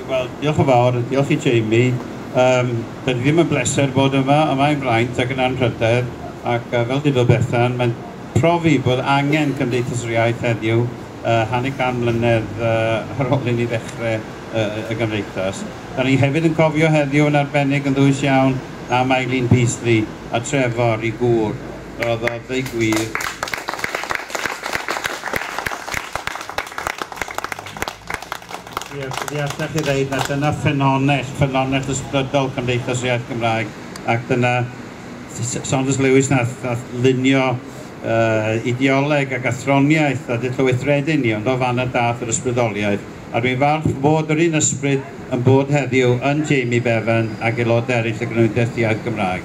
Wel, diolch yn fawr, diolch i Jamie. Um, da ni ddim yn bleser bod yma, yma i'n fraint ac yn anrhydedd, ac uh, fel dydo Bethan, mae'n profi bod angen Cymdeithas yr Iaith heddiw, uh, hanner can mlynedd uh, ar ôl i ni ddechrau uh, y Gymdeithas. Da ni hefyd yn cofio heddiw yn arbennig yn ddwys iawn am Eileen Peasley a Trevor i gŵr. Roedd o ddeu gwir Ie, fi allech chi ddeud na dyna ffynonell, ffynonell ysbrydol Cymdeithas yr Iaith Gymraeg, ac dyna Saunders Lewis nath, nath lunio uh, ideoleg ac athroniaeth a dyllyweithredu ni, ond o fan y dath yr ysbrydoliaeth. A dwi'n falch fod yr un ysbryd yn bod heddiw yn Jamie Bevan ac aelodau eraill y Grynwyddeth Iaith Gymraeg.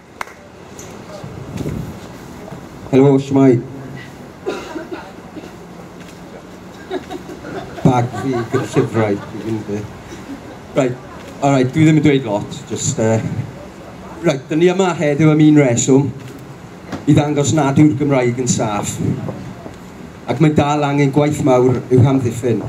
Helo, shwmae. Bag fi gyda llyfrau, dwi'n mynd fi. Right, alright, dwi ddim yn dweud lot, just... Uh... Right, dyn ni yma heddiw am un reswm, i ddangos nad yw'r Gymraeg yn saff, ac mae dal angen gwaith mawr i'w hamddiffyn.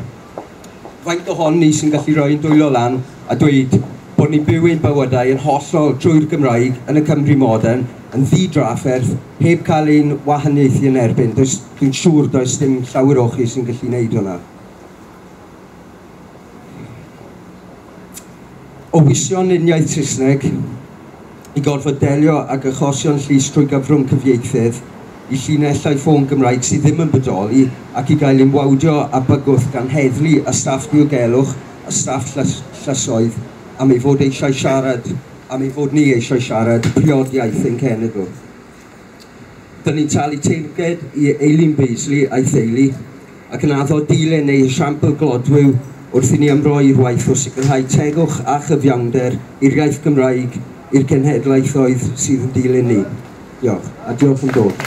Faint ohon ni sy'n gallu rhoi ein dwylo lan a dweud bod ni'n byw ein bywydau yn hollol drwy'r Gymraeg yn y Cymru modern, yn ddi-drafferth, heb cael ein wahaniaethu yn erbyn? Does, dwi'n siŵr does dim llawer o chi sy'n gallu wneud hwnna. o wisio'n uniaith Saesneg, i gorfod delio ag achosion llys trwy gyfrwng cyfieithydd, i llinellau ffôn Gymraeg sydd ddim yn bodoli ac i gael ein wawdio â bygwth gan heddlu a staff diogelwch a staff llysoedd am ei fod eisiau siarad, am ei fod ni eisiau siarad priod iaith ein cenedl. Dyn ni'n talu teyrnged i Eileen Beasley a'i theulu ac yn addo dilen neu esiampl glodwiw wrth i ni ymroi'r waith o sicrhau tegwch a chyfiawnder i'r iaith Gymraeg i'r cenhedlaethoedd sydd yn dilyn ni. Diolch, a diolch am dod.